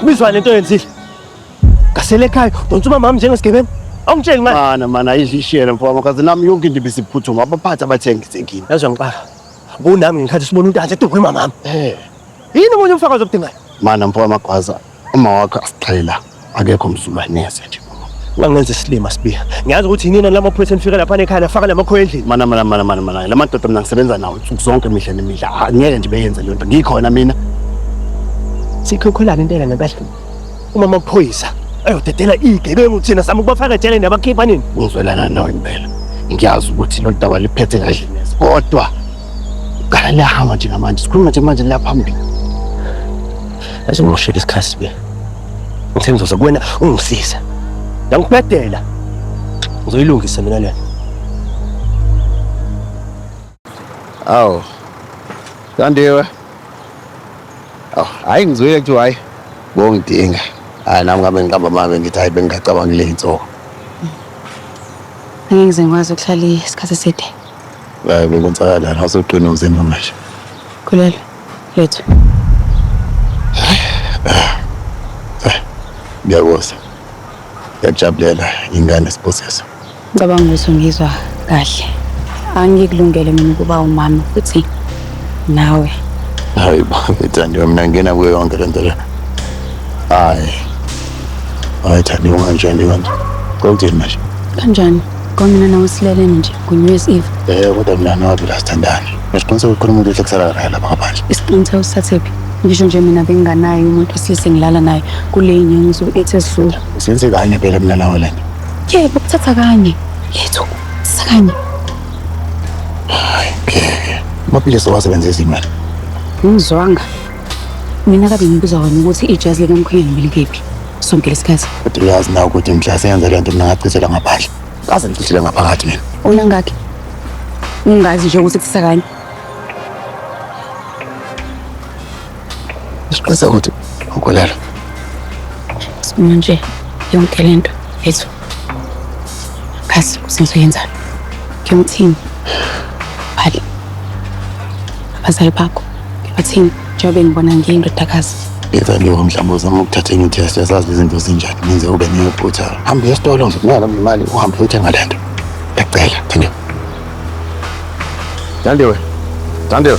Bizwa lento yenzile. Ngasele ekhaya, donsa umama njengesigebengu. Awungitsheli manje. Mana mana ayidlishele mfowami because nami yonke into ibisiphuthuma abaphathi abathengi sekini. Yazi ngixaka. Bunami ngikhathi sibona uNtanzi eduka umama. Eh. Yini umuntu umfakazi obudingayo? Mana mfowami agwaza uma wakho asixhela akekho msulwa neze nje. wangenza isilima sibiya ngiyazi ukuthi yinina lama phoyisa nifika lapha nekhaya nafaka lamakhoya endlini mana mana mana mana mana lama dodo mina ngisebenza nawo nsuku zonke imihla nemihla Ah, ngeke nje beyenze le nto ngikhona mina sikhokholana intela nabehlu uma amaphoyisa ayodedela igebengu thina sama ukubafaka ejele nabakhipha nini ngizwelana nawe impela ngiyazi ukuthi lo daba liphethe kahle neze kodwa qala liyahamba njengamanje sikhuluma njengamanje liyaphambili asimoshela isikhathi sibiya Ngithe ngizoza kuwena ungisize. Ngangikubedela. Ngizoyilungisa mina lena. Awu. Kandiwe. Awu, hayi ngizwile kuthiwa hayi bongidinga. Hayi nami ngabe ngiqamba mame ngithi hayi bengingacabanga le insuku. Ngeke ngize ngikwazi ukuhlala isikhathi eside. Hayi bekonzakalana awusoqina umzimba manje. Khulelwe. Lethu. Ngiyakoza. Ngiyakujabulela ingane sibusiso. Ngicabanga ukuthi ungizwa kahle. Angikulungele mina ukuba umama futhi nawe. Hayi babe Thandiwe mina ngena kuyo yonke lento le. Hayi. Hayi Thandiwe kanje kanje. Kokuthini manje? Kanjani? Kwamina nawe sileleni nje kuNewyear's Eve. Eh kodwa mina nawe la sithandani. Ngisiqiniseka ukuthi umuntu uhle kusala la lapha ngaphandle. Isiqiniseko usithethephi? Ngisho nje mina benginganaye umuntu osilise ngilala naye kule inyanga ngizo ethi esidlula. Senze kanye phela mina nawe lento. Yebo kuthatha kanye. Yethu sakanye. Hayi ngeke. Amaphilisi owasebenzisa imali. Ngizwanga. Mina kabe ngibuza wena ukuthi ijazi likamkhwenyana belikephi sonke lesikhathi. Kodwa uyazi na ukuthi mhla senza le nto mina ngachithela ngaphandle. Kaze ngichithele ngaphakathi mina. Ona ngakhi? Ungazi nje ukuthi kuthisa kanye. Siqinisa ukuthi ukolelo. Manje yonke lento yethu. Kasi usenzo yenzani? Ngiyomthini. Phali. Abazali bakho. Ngibathini njengoba ngibona ngiyindodakazi. Yeza nje mhlawumbe uzama ukuthatha enye itest yasazi izinto zinjani ngenze ube neyophutha. Hamba esitolo nje ngiyala imali uhambe uthenga lento. Ngiyacela Thandiwe. Thandiwe. Thandiwe.